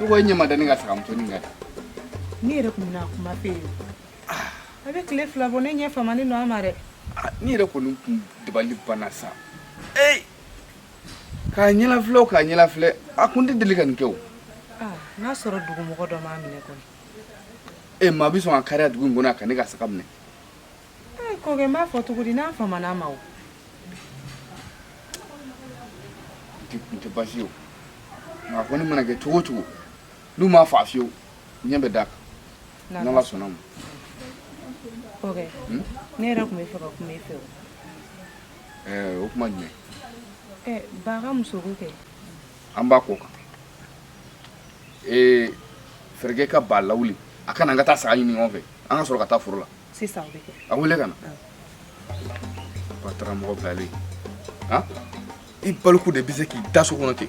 I ko ɲɛ ma da ne ka saga muso nin kan di. Ne yɛrɛ kun bɛna kuma f'e ye. A bɛ tile fila bɔ ne ɲɛ famani don a ma dɛ. Ne yɛrɛ kɔni kun dabali banna sa. Ee k'a ɲɛlafilɛ o k'a ɲɛlafilɛ a kun tɛ deli ka nin kɛ o. Aa n'a sɔrɔ dugumɔgɔ dɔ m'a minɛ kɔni. Ee maa bɛ sɔn ka kariya dugu in kɔnɔ yan ka ne ka saga minɛ. Kɔrɔkɛ b'a fɔ cogo di n'a fama tɛ basi ye nka ko nin mana kɛ cogo cogo n'u m'a faa fiyewu ɲɛ bɛ d'a kan n sɔnn'a ma hmm? ne yɛrɛ tun bɛ fɛ ka kuma e fɛ o kuma jumɛn ba ka muso kɛ an b'a ko kan ee fɛɛrɛ kɛ ka ba lawuli a ka na an ka taa saga ɲini ɲɔgɔn fɛ an ka sɔrɔ ka taa foro la sisan o bɛ kɛ a wele ka na ba taara mɔgɔ bilalen han i baliku de bɛ se k'i da so kɔnɔ ten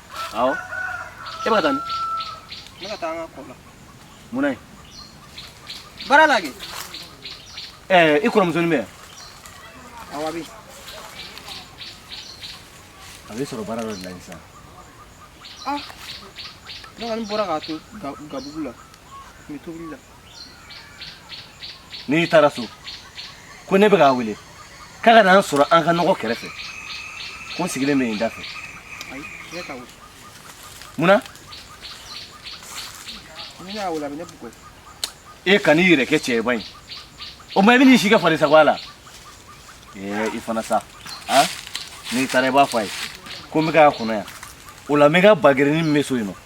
Awo. E bɛ ka taa min? N bɛ ka taa an ka kɔ la. Mun na yen? Baara la kɛ. Ɛɛ i kɔrɔmusonin bɛ yan? Awɔ a bɛ yen. A bɛ sɔrɔ baara dɔ de la sisan. Ah ne kɔni bɔra k'a to gabugu la. N bɛ tobili la. n'i taara so ko ne bɛ k'a wele k'a ka na n sɔrɔ an ka nɔgɔ kɛrɛfɛ ko n sigilen bɛ yen da fɛ munna e kan'i yɛrɛ kɛ cɛba ye o ma i bɛ n'i si kɛ farisagoya la ee i fana sa n'i taara i b'a fɔ a ye ko n bɛ k'a kɔnɔ yan o la n bɛ ka bagɛrɛnin min bɛ so yen nɔ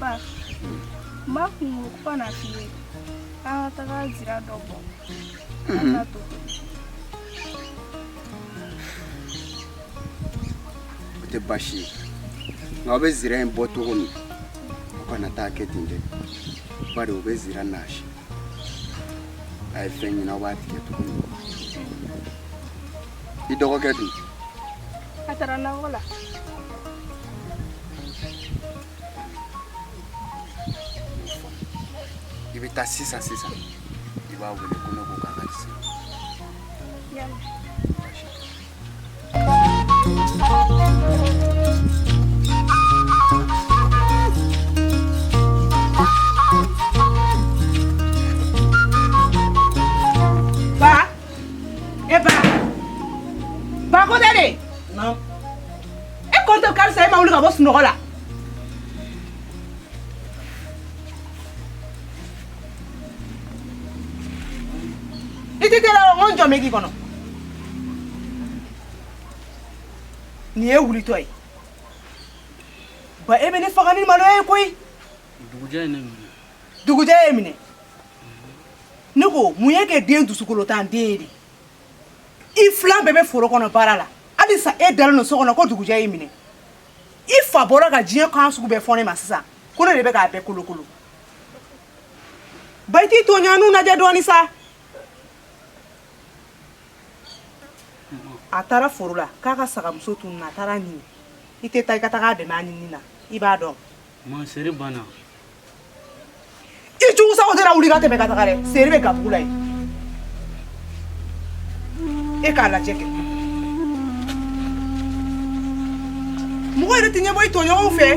ba ma kun ko ka n'a f'i ye an ka taga zira dɔ bɔ an ka to o tɛ baasi ye nka aw bɛ zira in bɔ cogo min aw kana t'a kɛ ten dɛ bari o bɛ zira naasi a ye fɛn ɲini aw b'a tigɛ cogo min i dɔgɔkɛ dun a taara nakɔ la i bɛ taa sisan sisan i b'a wele ko ne ko k'a ka di se Ee Ba! Ba ko dade! Non. E ko to halisa i ma wuli ka bɔ sunɔgɔ la. I tɛ teliya o n jɔ mɛ k'i kɔnɔ. Ne wulitɔ ye. Ba e bɛ ne faga ni malo ye koyi. Dugujɛ ye ne minɛ. Dugujɛ y'e minɛ. ne ko mun y'e kɛ den dusukolontan den ye de i filan bɛɛ bɛ foro kɔnɔ baara la halisa e dalen don so kɔnɔ ko dugujɛ y'i minɛ i fa bɔra ka diɲɛ kan sugu bɛɛ fɔ ne ma sisan ko ne de bɛ k'a bɛɛ kolokolo ba i t'i tɔɲɔgɔnnu lajɛ dɔɔni sa a taara foro la k'a ka sagamuso tununna a taara a ɲini i tɛ taa i ka taga a dɛmɛ a ɲinini na i b'a dɔn Ma seri banna i cogo sago sera wuli ka tɛmɛ ka taga dɛ seri bɛ gabugu la yen e k'a lajɛ kɛ mɔgɔ yɛrɛ tɛ ɲɛbɔ i tɔɲɔgɔnw fɛ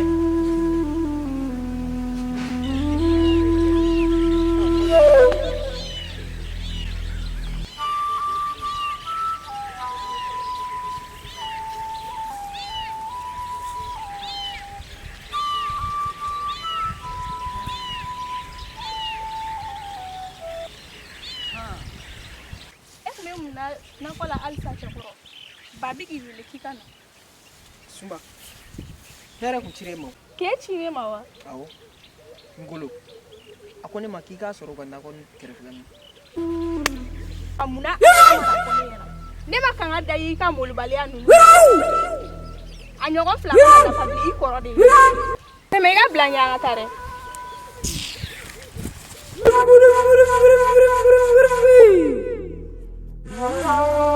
e tun bɛ mun na nakɔ la halisa cɛkɔrɔba bɛ k'i wele k'i ka na sunba hɛrɛ tun cira e ma k'e cira e ma wa awɔ n bolo a ko ne ma k'i k'a sɔrɔ a ka nakɔ kɛrɛfɛ a munna ne ma kanga da y'i ka malobaliya ninnu a ɲɔgɔn fila nafa bi i kɔrɔ de ye tɛmɛ i ka bila ɲɛ an ka taa dɛ Oh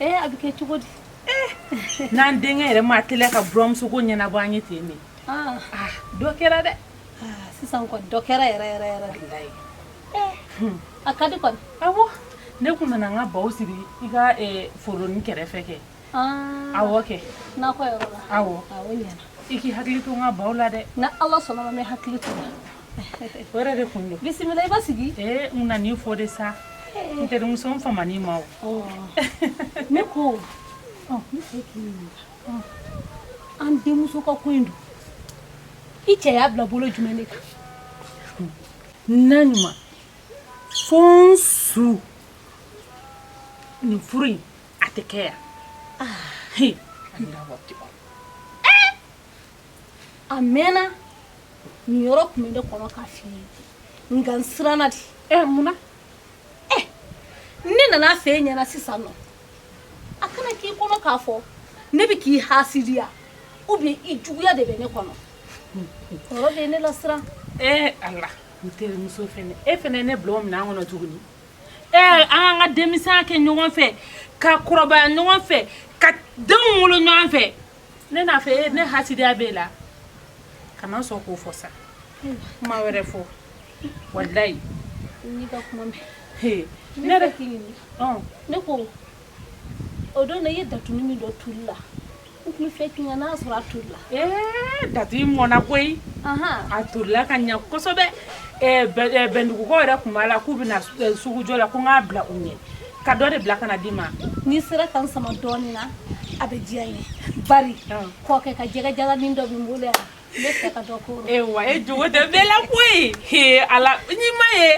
Ee a bɛ kɛ cogo di n'an denkɛ yɛrɛ ma teliya ka buranmuso ko ɲɛnabɔ an ye ten min dɔ kɛra dɛ sisan dɔ kɛra yɛrɛ yɛrɛ yɛrɛ la ye a ka di a ne tun nana n ka baw siri i ka foro in kɛrɛfɛ kɛ a kɛ n'a aw i k'i hakili to n ka baw la dɛ n' ala sɔnna n bɛ hakili to o yɛrɛ de kun don bisimila i basigi ee n nana i fo de sa n terimuso n famana i ma o ne ko ne fɛ k'i ɲininka an denmuso ka ko in don i cɛ y'a bila bolo jumɛn de kan naɲuman fo n su nin furu in a tɛ kɛ yan a mɛnna nin yɔrɔ tun bɛ ne kɔnɔ k'a f'i ye nka n siranna de ɛ mun na ɛ ne nan'a fɔ e ɲɛna sisan nɔ a kana k'i kɔnɔ k'a fɔ ne bɛ k'i hasidiya ou bien i juguya de bɛ ne kɔnɔ yɔrɔ bɛ ne lasiran ɛ ala n terimuso fɛnɛ e fɛnɛ ne bila o minɛn kɔnɔ tuguni ɛ an k'an ka denmisɛnya kɛ ɲɔgɔn fɛ ka kɔrɔbaya ɲɔgɔn fɛ ka denw wolo ɲɔgɔn fɛ ne n'a fɔ e ne hasidiya b'e la kana sɔn k'o fɔ sa kuma wɛrɛ fɔ walayi n y'i ka kuma mɛn he ne yɛrɛ k'i ɲininka ne ko o don na i ye datuni min don toli la n tun bɛ fɛ k'i ka n'a sɔrɔ a tolila ee datuni mɔnna koyi a tolila ka ɲa kosɛbɛ bɛndugukaw yɛrɛ tun b'a la k'u bɛna sugujɔ la ko n k'a bila u ɲɛ ka dɔ de bila ka na d'i ma n'i sera ka n sama dɔɔnin na a bɛ diya n ye bari kɔkɛ ka jɛgɛ jalanin dɔ bɛ n bolo yan n bɛ fɛ ka dɔ k'o la. ewa e jogo tɛ bɛɛ la koyi he ala n'i ma ye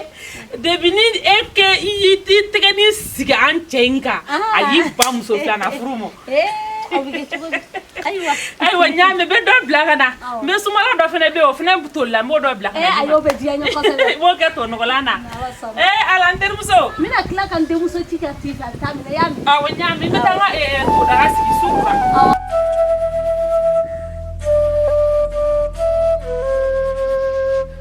depi ni e kɛ i y'i tɛgɛni sigi an cɛ in kan a y'i ban muso filanan furu ma. Ayiwa n y'a mɛn n bɛ dɔ bila ka na mɛ sunbala dɔ fana bɛ o fana tolila n b'o dɔ bila o kɛ to nɔgɔlan na ee ala terimuso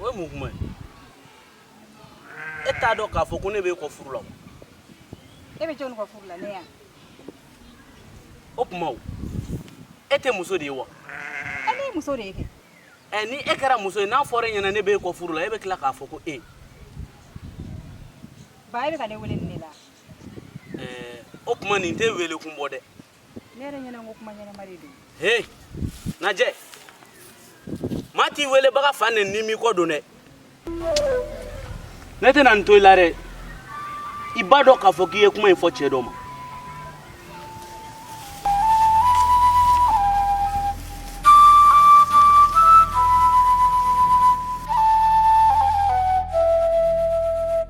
o ye mun kuma ye e t'a dɔn k'a fɔ ko ne bɛ e kɔ furu la e bɛ jɔnni kɔ furu la ne yan o tuma o e tɛ muso de ye wa e ne ye muso de ye kɛ ɛ ni e kɛra muso ye n'a fɔra e ɲɛna ne bɛ e kɔ furu la e bɛ tila k'a fɔ ko e ba e bɛ ka ne wele nin de la ɛɛ o tuma nin tɛ wele kun bɔ dɛ Ne yɛrɛ ɲɛna ko kuma ɲɛnama de don. Hey! Najɛ! Maa t'i welebaga fa nɛni n'i m'i ko dɔn dɛ. Ne tɛna n to i la dɛ. I b'a dɔn k'a fɔ k'i ye kuma in fɔ cɛ dɔ ma.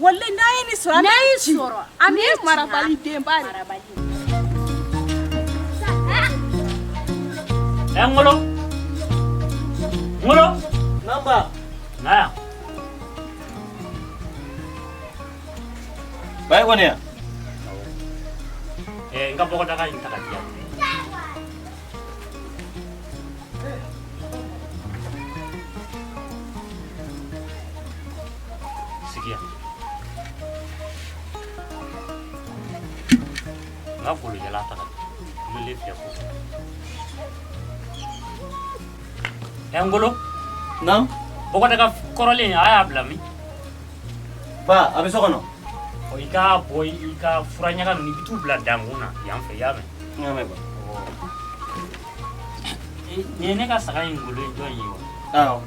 Walayi n'a ye nin sɔrɔ n'a ye sɔrɔ an ye marabali denba marabali ɛ ŋolo ŋolo naba na yan ba ye kɔni yan ɛ n ka bɔgɔdaga in ta ka di yan Sigi yan. Nga kolo jala ta ka mele fɛ ko. Ɛ Ngolo. Naamu. Bɔgɔdaga kɔrɔlen a y'a bila min. Ba a bɛ so kɔnɔ. Ɔ i ka bɔ i ka fura ɲaga ninnu i bɛ t'u bila dankun na yan fɛ i y'a mɛn. Nin ne ka saga in golo jɔn ye wa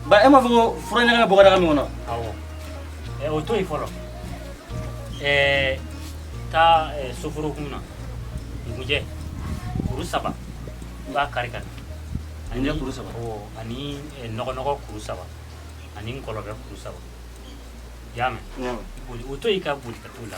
ba e m'a fɔ ko fura ɲaga bɛ bɔgɔdaga min kɔnɔ o to yen fɔlɔ taa soforokun na nkunjɛ kuru saba i b'a kari ka na ani nɔgɔnɔgɔ kuru saba ani nkɔlɔbɛ kuru saba i y'a mɛn o to yen ka boli ka t'o la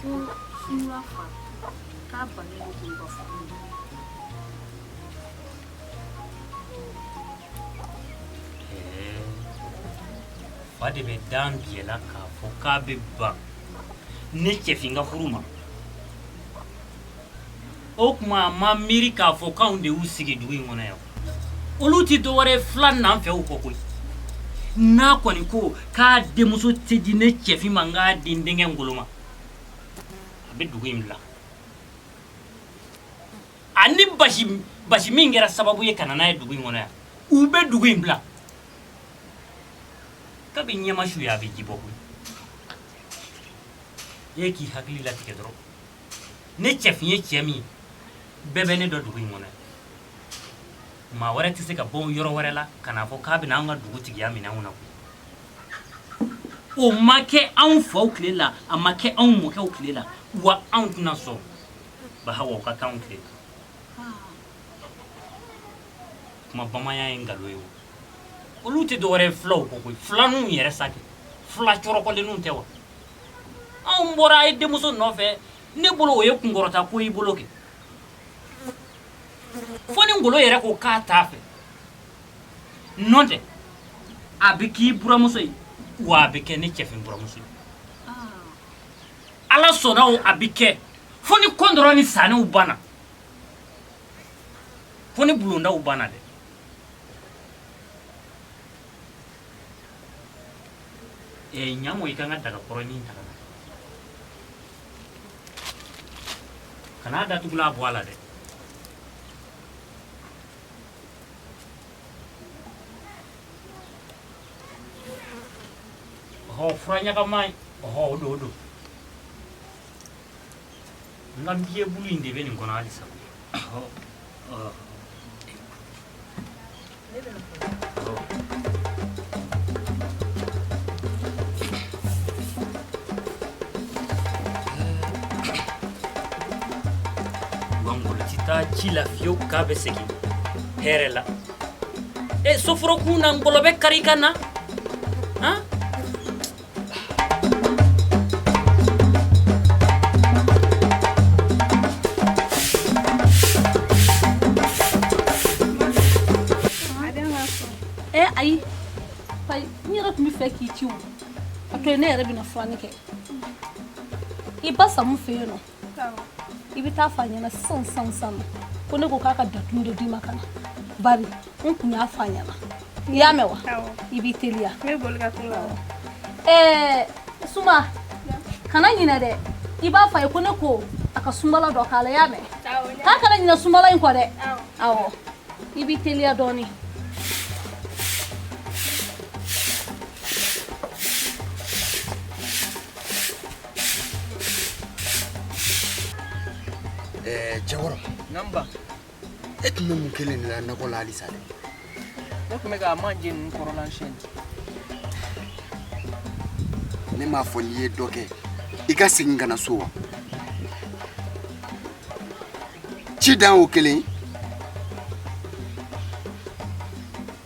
ko sura fa k'a bana ye ko ka fɔ fa de bɛ dan biyɛla k'a fɔ k'a bɛ ban ne cɛfin ka furu ma o tuma a ma miiri k'a fɔ k'anw de y'u sigi dugu in kɔnɔ yan olu tɛ dɔwɛrɛ ye fila nanfɛnw kɔ koyi n'a kɔni ko k'a denmuso tɛ di ne cɛfin ma n k'a di n denkɛ ngolo ma a bɛ dugu in bila ani basi min kɛra sababu ye ka na n'a ye dugu in kɔnɔ yan u bɛ dugu in bila ka bɛ ɲɛma su ye a bɛ ji bɔ koyi e k'i hakili latigɛ dɔrɔn ne cɛfin ye cɛ min bɛɛ bɛ ne dɔn dugu in kɔnɔ maa wɛrɛ tɛ se ka bɔ yɔrɔ wɛrɛ la ka n'a fɔ k'a bɛna an ka dugutigiya minɛ anw na o ma kɛ anw faw tile la a ma kɛ anw mɔkɛw tile la wa anw tɛna sɔn bahawa ka k'anw tile la kuma bamanya ye nkalon ye o olu tɛ dɔwɛrɛ ye fulaw kɔ koyi filaninw yɛrɛ sa kɛ fila cɔrɔkɔlenninw tɛ wa anw bɔra e denmuso nɔfɛ ne bolo o ye kunkɔrɔta ko y'i bolo kɛ fo ni ngolo yɛrɛ ko k'a t'a fɛ nɔntɛ a bɛ k'i buramuso ye wa a bɛ kɛ ne cɛfin buramuso ye ala sɔnna o a bɛ kɛ fo ni kɔntɔrɔn ni saanɛw banna fo ni bulondaw banna dɛ ɲamu i ka n ka dagakɔrɔnin ta ka na kan'a datugulan bɔ a la dɛ ɔhɔ fura ɲagama ye ɔhɔ o don o don n ka biye bulu in de bɛ nin kɔnɔ halisa taa ci la fiyewu k'a bɛ segin hɛrɛ la e soforo kun na ngɔlɔbɛ kari ka na han ayi n yɛrɛ tun bɛ fɛ k'i ci o a to ne yɛrɛ bɛna furani kɛ i ba samu fɛ yen nɔ i bɛ taa f'a ɲɛna sisan sisan sisan ko ne ko k'a ka datu dɔ d'i ma ka na bari n tun y'a f'a ɲɛna i y'a mɛn wa i b'i teliya ɛɛ suma kana ɲinɛ dɛ i b'a f'a ye ko ne ko a ka sunbala dɔ k'a la i y'a mɛn k'a kana ɲinɛ sunbala in kɔ dɛ awɔ i b'i teliya dɔɔnin Eh, cɛkɔrɔ e tun bɛ mun kelen de la nakɔ la halisa dɛ ne tun bɛ ka manje ninnu kɔrɔla siyɛn ne m'a fɔ n'i ye dɔ kɛ i ka segin ka na so wa ci dan t'o kelen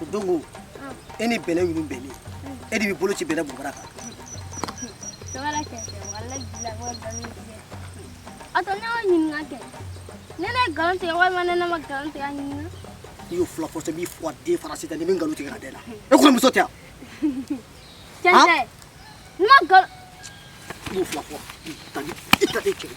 o don ko e ni bɛlɛ ninnu bɛnni e de bɛ bolo ci bɛlɛ bɔbara kan. tɔgɔla kɛ kɛ wala bila ko dɔnni tigɛ a tɔ ne y'o ɲininka kɛ ne ne nkalon tigɛ walima ne ne ma nkalon tigɛ a ɲininka. i y'o fila fɔsɛ b'i fɔ den farasi ta ni bɛ nkalon tigɛ ka da i la e kɔrɔ muso tɛ yan. cɛn tɛ ne ma nkalon. i y'o fila fɔ i ta ni i ta ni kɛlɛ.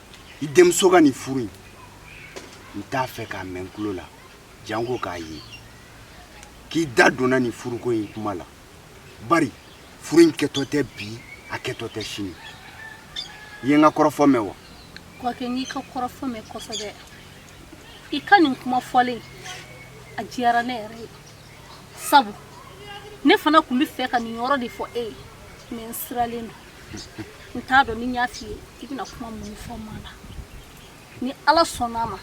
i denmuso ka nin furu in n t'a fɛ k'a mɛn n tulo la janko k'a ye k'i da donna nin furuko in kuma la bari furu in kɛtɔ tɛ bi a kɛtɔ tɛ sini i ye n ka kɔrɔfɔ mɛn wa kɔkɛ n y'i ka kɔrɔfɔ mɛn kosɛbɛ i ka nin kuma fɔlen a diyara ne yɛrɛ ye sabu ne fana tun bɛ fɛ ka nin yɔrɔ de fɔ e ye mɛ n siranlen don n t'a dɔn ni n y'a f'i ye i bɛna kuma min fɔ ma la ni ala sɔnna a ma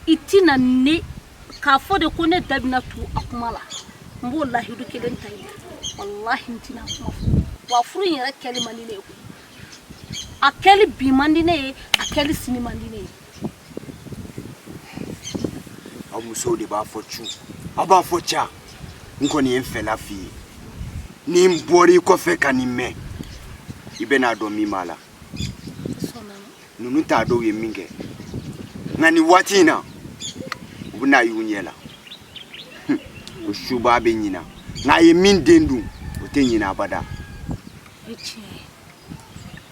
i tɛna ne k'a fɔ de ko ne da bɛna tu a kuma la n b'o lahidu kelen ta i ye walahi n tɛn'a kuma fɔ wa furu in yɛrɛ kɛli man di ne ye koyi a kɛli bi man di ne ye a kɛli sini man di ne ye aw musow de b'a fɔ cu aw b'a fɔ ca n kɔni ye n fɛla f'i ye ni n bɔr'i kɔfɛ ka nin mɛn i bɛn'a dɔn min b'a la ninnu ta dɔw ye min kɛ nka nin waati in na u bɛn'a y'u ɲɛ la o subaa bɛ ɲina nka a ye min den dun o tɛ ɲina abada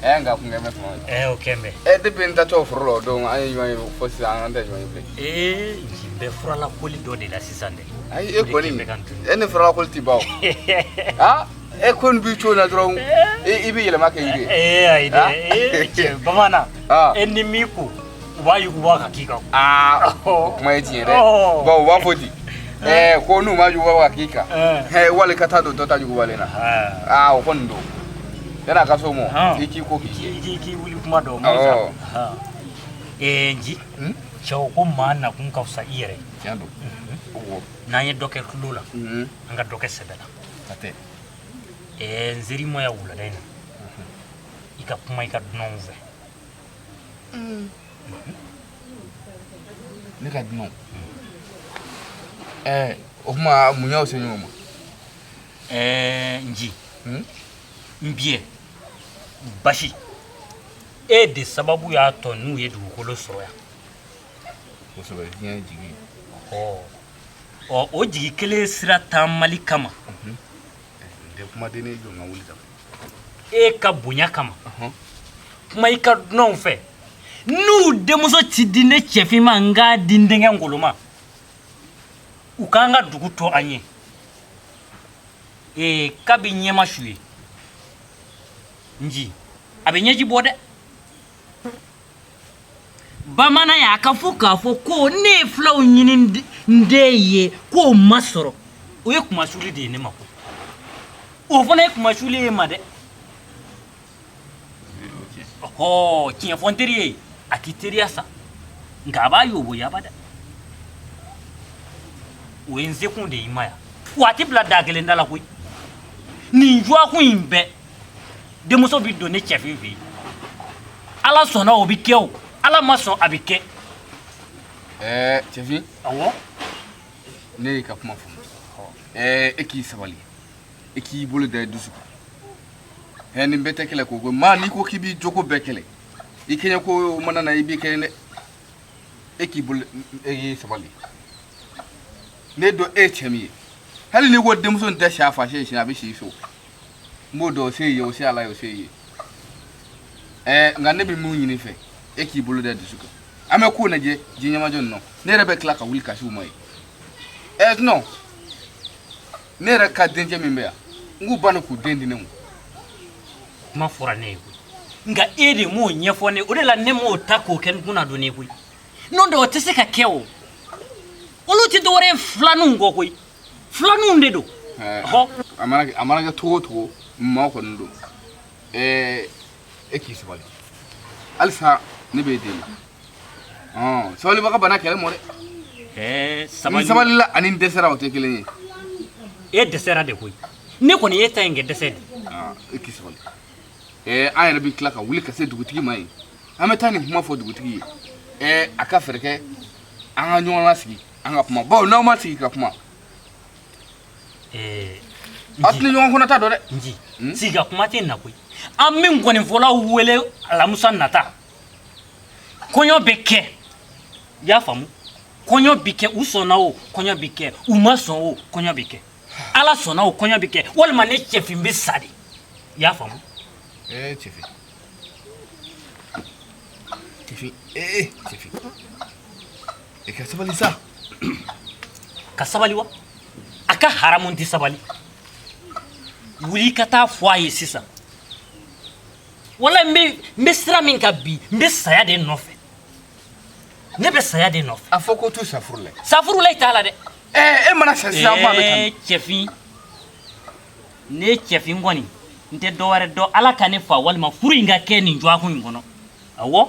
Ɛɛ nka kun bɛ kuma ɛɛ o kɛlen e de bɛ n da to furu la dɔn an ye ɲɔgɔn fo sisan an tɛ ɲɔgɔn bilen ee bɛ furala koli dɔ de la sisan dɛ ayi e kɔni e ne furala koli tɛ baw aa e ko n b'i cogo na dɔrɔn i bɛ yɛlɛma kɛ yiri ee ayi dɛ bamanan e ni min ko wa yi wa ka k'i kan aa o kuma ye tiɲɛ ye dɛ Ɔɔ. bawo u b'a fɔ di ɛɛ ko n'u ma juguba wa k'i kan Ɛɛ. hɛ wali ka taa don dɔ ta jugubalen na aa o kɔni don yanni a ka so mɔ Ɔn. i k'i ko k'i jɛ k'i k'i wuli kuma dɔn Awɔ. mɔgɔ sa ee nci Hmm? cɛw ko maa nakun ka fisa i yɛrɛ ye. tiɲɛ don o wɔ n'an ye dɔ kɛ tulon la Mhm. an ka dɔ kɛ sɛbɛ la a tɛ ee n seri ma ya wulada in na i ka kuma i ka dunanw fɛ Mm. Ne ka dunanw. Ɛɛ o kuma mun y'aw se ɲɔgɔn ma? Ɛɛ Nci. Hmm? N b'i ɲɛ. Basi. E de sababu y'a to n'u ye dugukolo sɔrɔ yan. Kosɛbɛ diɲɛ ye jigi ye. Ɔ o jigi kelen sira taamali kama. Bɛɛ kumaden ne jɔ ka wuli ka e ka bonya kama kuma i ka dunanw fɛ n'u denmuso tɛ di ne cɛfin ma n k'a di n denkɛ ngolo ma u k'an ka dugu to an ye ee kabi ɲɛ ma su ye nci a bɛ ɲɛji bɔ dɛ bamananya k'a fɔ k'a fɔ ko ne ye fulaw ɲini n den ye k'o ma sɔrɔ o ye kumasuli de ye ne ma koyi o fana ye kumasuli ye ma dɛ ɔhɔ tiɲɛ fɔ n teri ye a tɛ teriya sa nka a b'a yoboyaba dɛ o ye n sekun de ye i ma yan wa a tɛ bila da kelen da la koyi nin dɔgɔkun in bɛɛ denmuso bɛ don ne cɛfin fɛ yen ala sɔnna o bɛ kɛ o ala ma sɔn a bɛ kɛ ɛɛ cɛfin ɔwɔ ne y'i ka kuma faamu ɛɛ e k'i sabali e k'i bolo da i dusu kan ɛɛ nin bɛɛ tɛ kɛlɛ ko ko maa n'i ko k'i b'i jogo bɛɛ kɛlɛ i kɛɲɛ ko mana na i bɛ kɛɲɛ dɛ e k'i bolo e k'i sabali ne dɔn e ye cɛ min ye hali n'i ko denmuso in tɛ si a fa si ye siɲɛ a bɛ si i fɛ o n b'o dɔn o se ye o se ala ye o se ye ɛɛ nka ne bɛ mun ɲini i fɛ e k'i bolo da i dusu kan an bɛ ko lajɛ ji ɲɛmajɔlen na ne yɛrɛ bɛ tila ka wuli ka se u ma ye ɛɛ nɔ ne yɛrɛ ka denkɛ min bɛ yan n k'u banna k'u den di ne ma kuma fɔra ne ye koyi nka e de m'o ɲɛfɔ ne o de la ne m'o ta k'o kɛ n kunna don ne ye koyi n'o tɛ o tɛ se ka kɛ o olu tɛ dɔwɛrɛ ye filaninw kɔ koyi filaninw de don a mana kɛ cogo o cogo maa kɔni don e k'i sabali halisa ne bɛ e deli sabalibaga banna kɛlɛ ma dɛ sabali n sabalila ani n dɛsɛra o tɛ kelen ye e dɛsɛra de koyi ne kɔni y'e ta in kɛ dɛsɛ de e k'i sabali an yɛrɛ bɛ tila ka wuli ka se dugutigi ma yen an bɛ taa nin kuma fɔ dugutigi ye a ka fɛɛrɛ kɛ an ka ɲɔgɔn lasigi an ka kuma bawo n'aw ma sigi ka kuma ɛɛ aw tɛ ɲɔgɔn kɔnɔ ta dɔn dɛ nji Hmm? sigi ka kuma tɛ na koyi an bɛ nkɔninfɔlaw wele alamusa nata kɔɲɔ bɛ kɛ i y'a faamu kɔɲɔ bɛ kɛ u sɔnna o kɔɲɔ bɛ kɛ u ma sɔn o kɔɲɔ bɛ kɛ ala sɔnna o kɔɲɔ bɛ kɛ walima ne cɛfin bɛ sa de i y'a faamu ee cɛfin cɛfin ee cɛfin E ka sabali sa ka sabali wa a ka haramu n tɛ sabali wuli ka taa fɔ a ye sisan wala n bɛ sira min kan bi n bɛ saya de nɔfɛ ne bɛ saya de nɔfɛ a fɔ ko astafurula safurulayi t'a la dɛ ɛɛ e mana sa sisan ko a bɛ taa cɛfin ne cɛfin kɔni n tɛ dɔ wɛrɛ dɔn ala ka ne fa walima furu in ka kɛ nin dɔgɔkun in kɔnɔ awɔ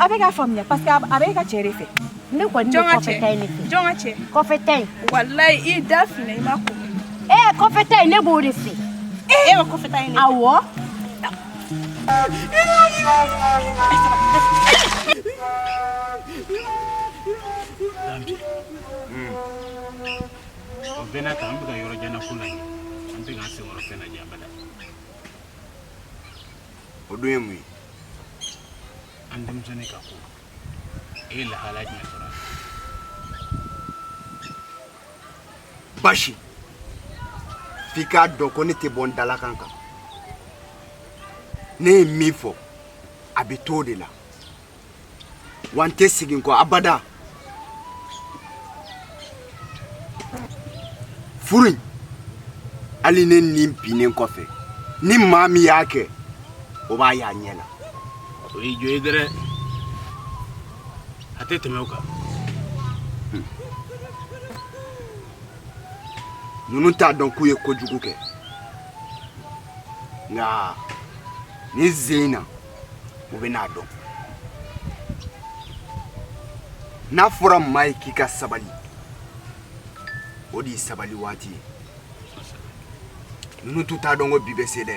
A bɛ ka faamuya parce que a bɛ e ka cɛ de fɛ, ne kɔni bɛ kɔfɛ ta in de fɛ, jɔn ka cɛ, kɔfɛ ta in, walahi i da filɛ i ma kɔkɔ, ee kɔfɛ ta in ne b'o de fɛ, e bɛ kɔfɛ ta in de fɛ, awɔ o bɛɛ n'a ta an bɛ ka yɔrɔ jan na ko laɲini an tɛ k'an senkɔrɔ fɛn lajɛ abada o dun ye mun ye an denmisɛnnin ka ko e ye lahala jumɛn sɔrɔ basi f'i k'a dɔn ko ne tɛ bɔ n dalakan kan ne ye min fɔ a bɛ t'o de la wa n tɛ segin kɔ abada furu in hali ne ni binnen kɔfɛ ni maa min y'a kɛ o b'a y'a ɲɛ la o y'i jo ye dɛrɛ a tɛ tɛmɛ o kan ninnu t'a dɔn k'u ye kojugu kɛ nka nin sen in na u bɛn'a dɔn n'a fɔra maa ye k'i ka sabali o de ye sabali waati ye ninnu tun t'a dɔn ko bi bɛ se dɛ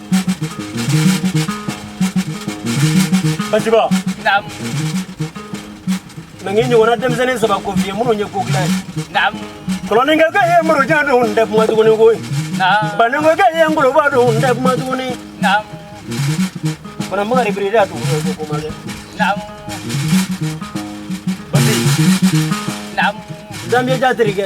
Baba na ye ɲɔgɔnna denmisɛnnin saba ko fi ye minnu ye ko dilan kolonkɛ ye murujan don tɛ kuma tuguni ko bankɛ ye ngoloba don tɛ kuma tuguni fanamakari bi da dugu danjatigi kɛ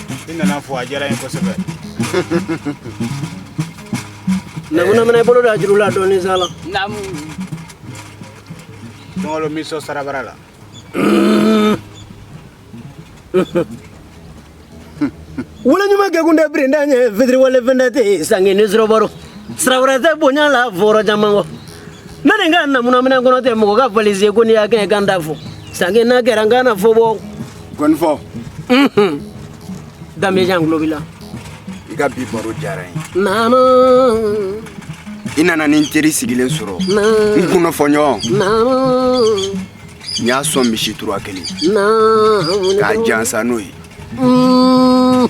i nana fɔ a diyara ye kosɛbɛ namunamina i bolo da juru la dɔɔnin sa la naamu dɔngɔlo mi sɔ sarabara la wale ɲuman kɛkun tɛ birinda ɲɛ fitiriwale fɛn tɛ te sange ni sɔrɔbaro sirabara tɛ bonya la fɔrɔ caman kɔ ne nin ka namunamina kɔnɔ tɛ mɔgɔ ka valise ko n'i y'a kɛ kan da fɔ sange n'a kɛra n kana fɔ bɔ Gɔnifɔ danbejan tulo b'i la i ka bi baro diyara n ye naamu i nana ni n teri sigilen sɔrɔ naamu n kunnafɔɲɔgɔn naamu n y'a sɔn misi tura kelen naanu k'a jansa n'o ye Mm.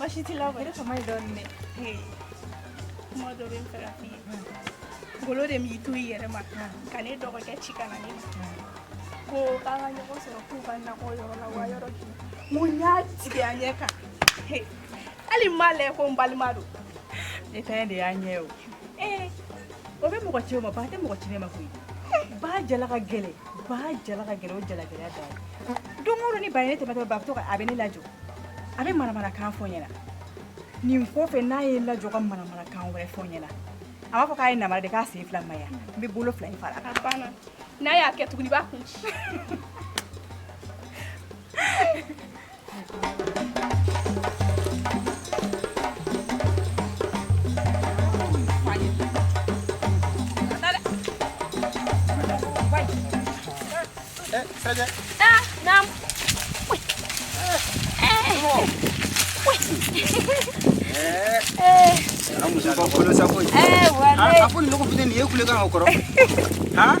Bashi ti la wɛrɛ kama ye dɔɔnin dɛ kuma dɔ bɛ n fɛ ka f'i ye ngolo de m'i to i yɛrɛ ma ka ne dɔgɔkɛ ci ka na ne ma ko k'an ka ɲɔgɔn sɔrɔ k'u ka nakɔ yɔrɔ la wa yɔrɔ k'i mun y'a tigɛ a ɲɛ kan hali n b'a lajɛ ko n balima don ne ta de y'a ɲɛ o ee o bɛ mɔgɔ ci o ma ba tɛ mɔgɔ ci ne ma koyi ba jala ka gɛlɛn Ba jala ka gɛlɛn o jala gɛlɛya dan ye. Don o don ni ba ye ne tɛmɛtɔ ba bɛ to ka a bɛ ne lajɔ a bɛ manamanakan fɔ n ɲɛna nin kɔfɛ n'a ye n lajɔ ka manamanakan wɛrɛ fɔ n ɲɛna a b'a fɔ k'a ye namara de k'a sen fila ma yan n bɛ bolo fila in fara a kan. A banna n'a y'a kɛ tuguni i b'a kun ci. Apo ni lɔgɔ fitini nin ye kulekan o kɔrɔ han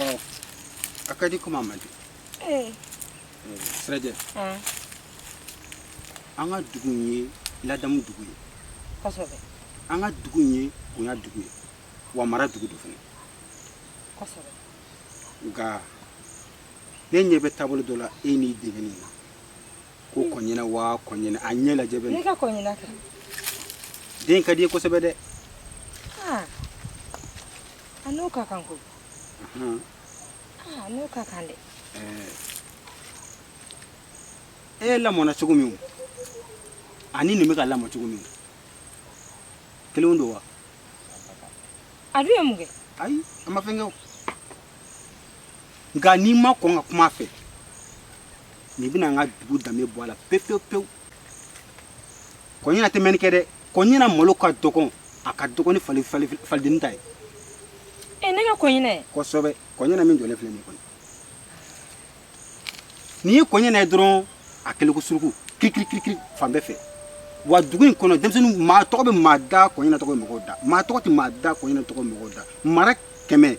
Oh, a ka di kuma man di. Eh. Eh, Sirajɛ, Aa, an ka dugu in ye ladamu dugu ye. kosɛbɛ An ka dugu in ye bonya dugu ye. Wa mara dugu don fana. kosɛbɛ Nka ne ɲɛ bɛ taabolo dɔ la e n'i denni na. Ko kɔɲina wa kɔɲina a ɲɛ lajɛ bɛ ne ne. ka kɔɲina kɛ Den ka di i ye kosɛbɛ dɛ. aa a n'o ka kan koyi Ah, n'o ka kan dɛ e lamɔna cogo min ani nin bɛ ka lamɔ cogo min kelen don wa a dun ye mun kɛ ayi a ma fɛn kɛ o nka n'i ma kɔn ka kuma a fɛ nin bɛna an ka dugu danbe bɔ a la pewu pewu pewu kɔɲina tɛ mɛnni kɛ dɛ kɔɲina malo ka dɔgɔn a ka dɔgɔn ni fali fali falidenni ta ye e ne ka kɔɲina ye kosɛbɛ kɔɲina min jɔlen filɛ nin kɔni n'i ye kɔɲina ye dɔrɔn a kɛlen ko suruku kirikirikiri fan bɛɛ fɛ wa dugu in kɔnɔ denmisɛnnin maa tɔgɔ bɛ maa da kɔɲina tɔgɔ ye mɔgɔw da maa tɔgɔ tɛ maa da kɔɲina tɔgɔ ye mɔgɔw da mara kɛmɛ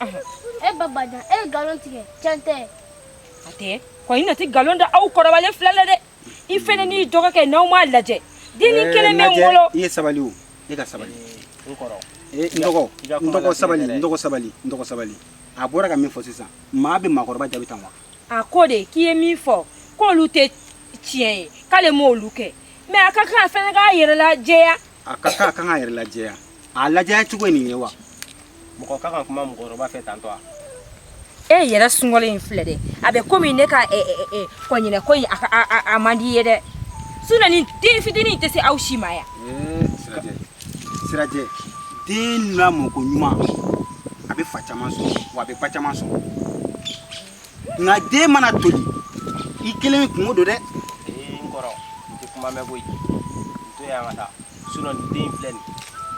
e ba bajan e ye nkalon tigɛ tiɲɛ tɛ a tɛ kɔ i na ti nkalon da aw kɔrɔbalen fila la dɛ i fana n'i dɔgɔkɛ n'aw m'a lajɛ denni eh, kelen bɛ n bolo i ye sabali o e ka sabali n kɔrɔ eh, n dɔgɔ n dɔgɔ sabali n dɔgɔ sabali n dɔgɔ sabali a bɔra ka min fɔ sisan maa bɛ maakɔrɔba jaabi tan wa a ko de k'i ye min fɔ k'olu tɛ tiɲɛ ye k'ale m'olu kɛ mɛ a ka kan a fana k'a yɛrɛ lajɛya a ka kan a kan k'a yɛrɛ lajɛya a lajɛya cogo ye nin ye wa mɔgɔ ka kan kuma mɔgɔkɔrɔba fɛ tantɔ wa e yɛrɛ sungɔlen in filɛ dɛ a bɛ komi ne ka kɔɲinɛ ko in a man di i ye dɛ sinɔn nin den fitinin tɛ se aw si ma yan sirajɛ sirajɛ den lamɔ koɲuman a bɛ fa caman sɔrɔ wa a bɛ ba caman sɔrɔ nka den mana toli i kelen kunko don dɛ ee n kɔrɔ n tɛ kuma mɛn koyi n to yan ka taa sinɔn nin den filɛ nin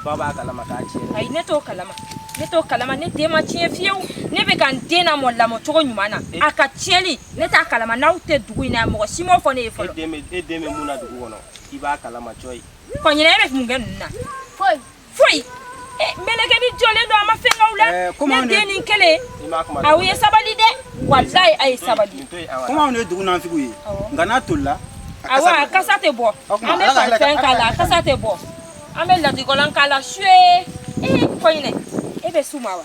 ba b'a kalama k'a tiɲɛ ayi ne t'o kalama ne t'o kalama ne den ma tiɲɛ fiyewu ne bɛ ka n den lamɔ lamɔ cogo ɲuman na a ka tiɲɛli ne t'a kalama n'aw tɛ dugu in na mɔgɔ si m'o fɔ ne ye fɔlɔ e den bɛ mun na dugu kɔnɔ i b'a kalama cɔyi kɔɲinɛ e bɛ mun kɛ ninnu na foyi foyi eh, mɛlɛkɛni jɔlen don a ma fɛn k'aw la ne den nin kelen aw ye sabali dɛ walayi a ye sabali komi anw ye dugu nanfigiw ye nka n'a tolila awa kasa tɛ bɔ an bɛ parifɛn k'a la kasa tɛ bɔ an bɛ latikɔlɔn k'a la suye ee kɔɲinɛ e bɛ su ma wa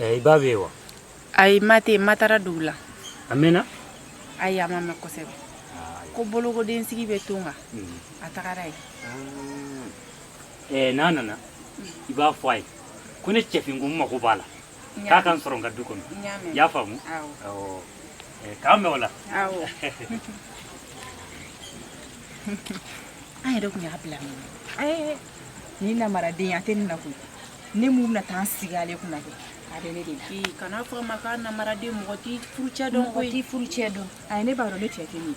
i ba bɛ yen wa ayi ma tɛ ma taara dugu la a mɛnna ayi a ma mɛn kosɛbɛ ko bolokodensigi bɛ to kan a tagara yen n'a nana i b'a fɔ a ye ko ne cɛfin ko n mago b'a la k'a ka n sɔrɔ n ka du kɔnɔ i y'a faamu Eh, kame wala awo an yɛrɛ tun y'a bila min ɛɛ ni namaraden a tɛ nin na koyi ne min bɛna taa n sigi ale kunna kɛ a bɛ ne de la kan'a fɔ a ma ko namaraden mɔgɔ t'i furucɛ dɔn koyi mɔgɔ t'i furucɛ dɔn ayi ne b'a dɔn ne cɛ tɛ min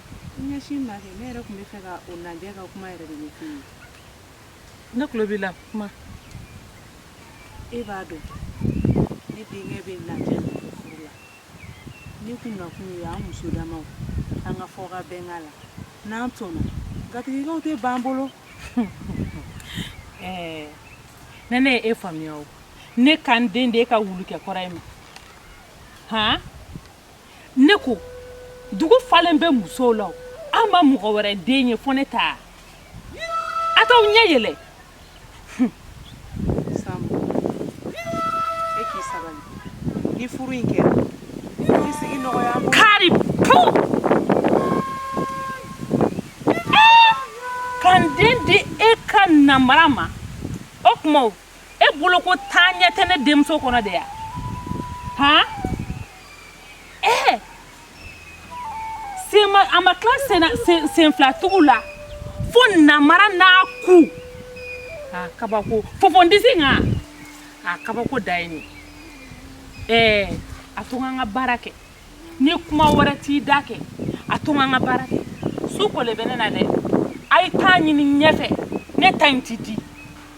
Ɲɛsin n ma kɛ ne yɛrɛ tun b'a fɛ ka aw lajɛ ka kuma yɛrɛ de ɲɛ ye ne tulo b'i la kuma e b'a dɔn ne denkɛ bɛ lajɛ la ne kun nakun ye an muso dama an ka fɔ ka bɛn a la n'an sɔnna gatigikɛw tɛ ban bolo ɛɛ ne ne ye e faamuya o ne ka n den di e ka wulukɛ kɔrɔ in ma hɔn ne ko dugu falen bɛ musow la an ma mɔgɔ wɛrɛ den ye fo ne ta a t'aw ɲɛ yɛlɛ ni furu in kɛra i sigi nɔgɔya kari pu ka n den di e ka namara ma o tuma e bolo ko taa ɲɛ tɛ ne denmuso kɔnɔ de ya han ee eh! senma a ma tila senna sen senfilatugu la fo namara n'a ku a kabako fofondisi nka a kabako da ye nin ɛɛ eh, a to n ka baara kɛ ni kuma wɛrɛ t'i da kɛ a to n ka baara kɛ su kolen bɛ ne na dɛ a ye t'a ɲini ɲɛfɛ ne ta in ti di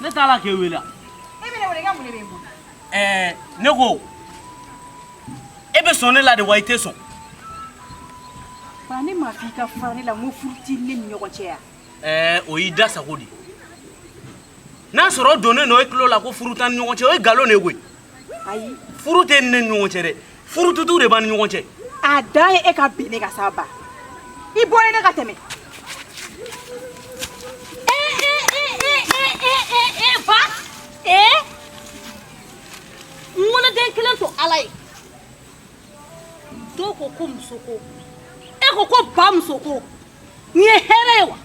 ne t'a la k'e wele e bɛ ne wele i ka mun de bɛ n bolo. ɛɛ ne ko e bɛ sɔn ne la de wa i tɛ sɔn. ba ne m'a fɔ i ka fara ne la n ko furu tɛ ne ni ɲɔgɔn cɛ yan. ɛɛ o y'i da sago de ye n'a sɔrɔ o donnen don e tulo la ko furu t'an ni ɲɔgɔn cɛ o ye nkalon de ye koyi. ayi furu tɛ ne ni ɲɔgɔn cɛ dɛ furu tutu de b'an ni ɲɔgɔn cɛ a dan ye e ka bin ne kan sa ba i bɔ yen ne ka tɛmɛ ba ee n woloden kelen to ala ye dɔw ko ko musoko e ko ko bamusoko Nin ye hɛrɛ ye wa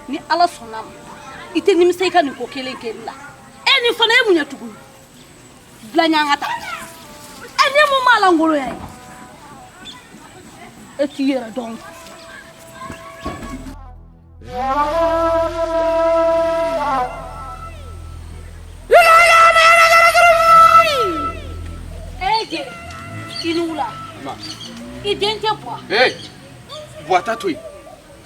ni ala sɔnn'a ma i tɛ nimisa i ka nin ko kelen kɛ la e ni fana e mun ye tugun bila ɲangata e ni mun b'a lankolonya ye e t'i yɛrɛ dɔn i ni wula n dencɛ buwa buwa ta to yen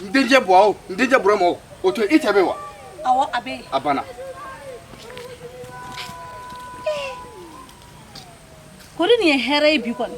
n dencɛ buwa o n dencɛ burama o o to yen i cɛ bɛ wa awɔ a bɛ yen a banna kori nin ye hɛrɛ ye bi kɔni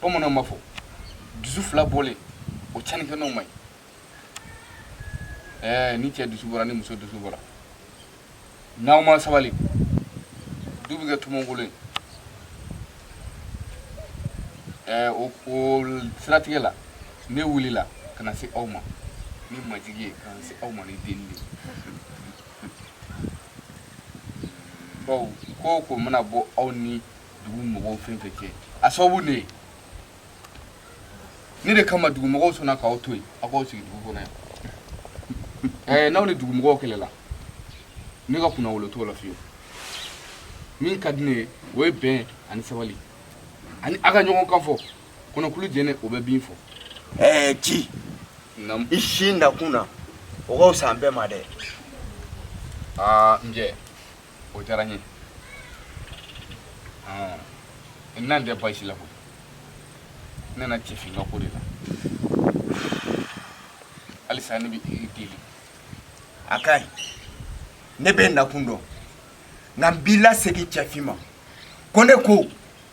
bamananw b'a fɔ dusu fila bɔlen o tiɲɛni kɛ nɔ man ɲi ɛɛ ni cɛ dusu bɔra ni muso dusu bɔra n'aw ma sabali du bɛ kɛ tomonkolon ye ɛɛ o o siratigɛ la ne wulila ka na se aw ma ni majigi ye ka na se aw ma ni delili de ye bawo ko o ko mana bɔ aw ni dugu mɔgɔw fɛn fɛn cɛ a sababu ne ye ne de kama dugu mɔgɔw sɔnna k'aw to yen aw k'aw sigi dugu kɔnɔ yan ɛɛ n'aw ni dugu mɔgɔw kɛlɛla ne ka kunnawolo t'o la fiyewu min ka di ne ye o ye bɛn ani sabali ani a ka ɲɔgɔn kan fɔ kɔnɔkulu jɛlen o bɛ bii fɔ ɛɛ nci Naamu. i sin i nakun na o ka fisa an bɛɛ ma dɛ aa n cɛ o diyara n ye n nan tɛ baasi la ko n nana cɛfin ka ko de la halisa ne bɛ i deli a ka ɲi ne b'i nakun dɔn nka n b'i lasegin cɛfin ma ko ne ko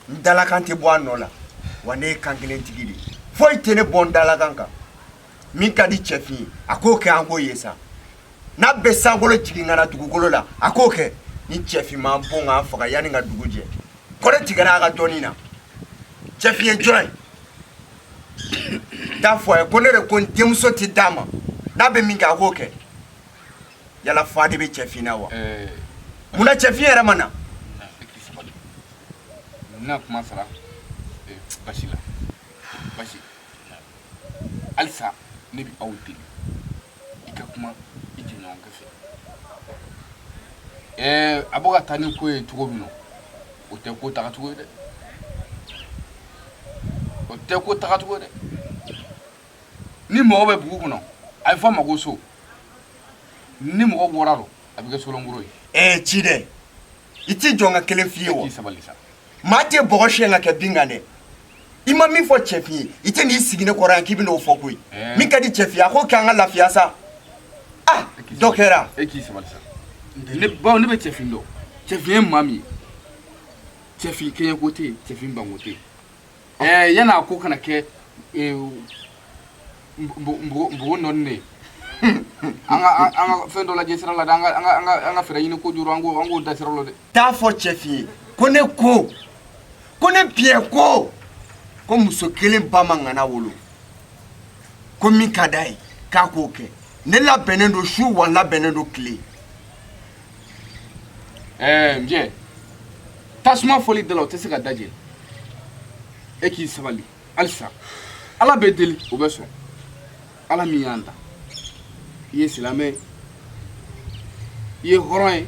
n dalakan tɛ bɔ a nɔ la wa ne ye kan kelen tigi de ye foyi tɛ ne bɔ n dalakan kan min ka di cɛfin ye a k'o kɛ an k'o ye sa n'a bɛ sankolo jigin ka na dugukolo la a k'o kɛ ni cɛfin m'an bon k'an faga yanni ka dugu jɛ kɔrɛ tigɛra a ka dɔɔnin na cɛfin ye jɔn ye t'a fɔ a ye ko ne de ko n denmuso tɛ d'a ma n'a bɛ min kɛ a k'o kɛ yala fa de bɛ cɛfin na wa munna cɛfin yɛrɛ ma na n bɛna kuma sara basi la basi halisa ne bɛ aw deli i ka kuma i jɛɲɔgɔnkɛ fɛ ɛɛ a bɛ ka taa ni ko ye cogo min na o tɛ ko tagacogo ye dɛ o tɛ ko tagacogo ye dɛ ni mɔgɔ bɛ bugu kɔnɔ a bɛ fɔ a ma ko so ni mɔgɔ bɔra a bɛ kɛ so lankolon ye ɛɛ ci dɛ i t'i jɔ n ka kelen f'i ye wa maa tɛ bɔgɔ siyɛn ka kɛ bin kan dɛ i ma min fɔ cɛfin ye i tɛ n'i sigi ne kɔrɔ yan k'i bɛ n'o fɔ koyi min ka di cɛfin ye a k'o kɛ an ka lafiya sa ah dɔ kɛra e k'i sabali sa ne bawo ne bɛ cɛfin dɔn cɛfin ye maa min ye cɛfin kɛɲɛko tɛ yen cɛfin banko tɛ yen eh yanni a ko ka na kɛ eh, mbugu nɔni de an ka fɛn dɔ lajɛ sira la dɛ an ka fɛɛrɛ ɲini ko juru an k'o da sira la dɛ t'a fɔ cɛfin ye ko ne ko ko ne biyɛn ko ko muso kelen ba ma ŋana wolo ko min ka d'a ye k'a k'o kɛ ne labɛnnen don su wa n labɛnnen don tile ɛɛ n jɛ tasuma fɔli da la o tɛ se ka da jeni e k'i sabali halisa ala bɛ deli o bɛ sɔn ala min y'an da i ye silamɛ ye i ye hɔrɔn ye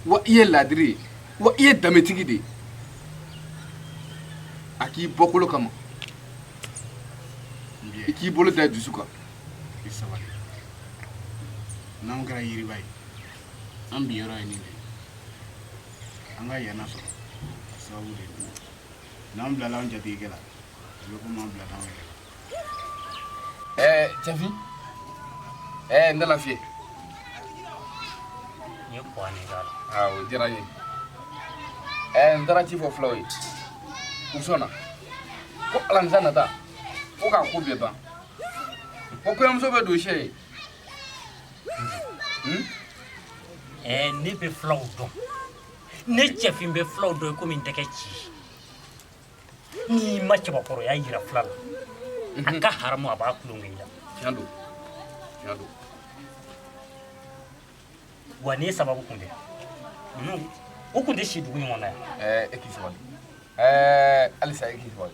wa i ye laadiri ye wa i ye danbetigi de ye a k'i bɔkolo kama i k'i bolo da i dusu kan i sabali n'anw kɛra yiriba ye an binyɔrɔ ye nin de ye an ka yɛlɛ sɔrɔ sababu de ye n'an bilala an jatigikɛ la a bɛ komi an bilal'an yɛrɛ la. ɛɛ cɛfin ɛɛ n dala fiyɛ. n ye kɔn ne k'a la. aa o diyara n ye ɛɛ n taara ci fɔ fulaw ye u sɔnna ko alamisa nata ko k'a ko bɛɛ ban ko kɔɲɔmuso bɛ don cɛ ye. Hmm? Eh, ne bɛ fulaw dɔn ne cɛfin bɛ fulaw dɔn komi n tɛgɛ ci n'i ma cɛbakɔrɔya yira fula la a n ka haramu a b'a tulonkɛ i la tiɲɛ don tiɲɛ don wa ne sababu kun tɛ ninnu u kun tɛ si dugu ɲɔgɔn na yan ɛɛ eh, e k'i sabali ɛɛ eh, halisa e k'i sabali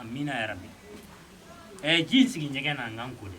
Amina yɛrɛ bi ɛ ji sigi ɲɛgɛn na n ka n ko dɛ